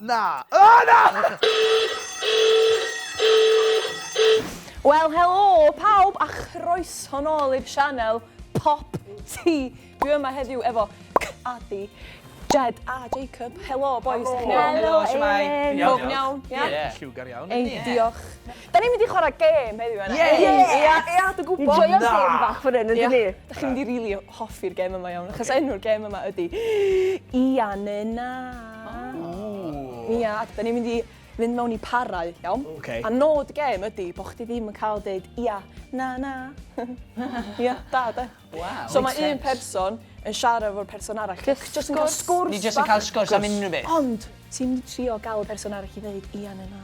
Na! O, na! Wel, helo pawb a chroeso nôl i'r sianel Pop Ti. Dwi yma heddiw efo Cadi, Jed a Jacob. Helo, boys. Helo, Eileen. Bob iawn? Ie. Lliwgar iawn. Ei, diolch. Da ni'n mynd i chwarae gêm heddiw, Anna. Ie! Ie, ie, dwi'n gwybod. Ni'n joio'r gêm bach fan hyn, yndyn ni? Da chi'n mynd i rili hoffi'r gêm yma iawn, achos enw'r gêm yma ydy Ia neu Na. Ia, ac da ni'n mynd i fynd mewn i parau, iawn? Ok. A nod y gêm ydy bod chdi ddim yn cael deud ia, na, na. Ia, da, de? Waw. So mae un person yn siarad efo'r person arall. Jyst jyst yn cael sgwrs bach. Ni jyst yn cael sgwrs am unrhyw beth. Ond ti'n mynd i trio gael y person arall i ddeud ia neu na.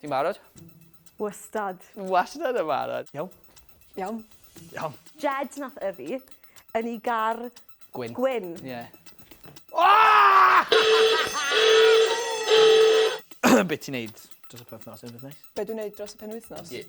Ti'n barod? Wastad. Wastad yn barod. Iawn. Iawn. Iawn. Jed nath yfi yn ei gar... Gwyn. Gwyn. Ie. Yeah. Oh! Be ti'n neud dros y penwythnos? Unrhyw beth neis? Be dwi'n neud dros y penwythnos? Ie. Yeah.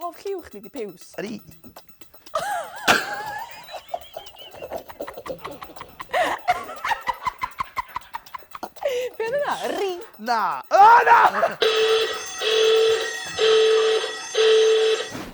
Hoff lliw chdi 'di piws? Yr u- Be' odd wnna? Yr u- Na. O na!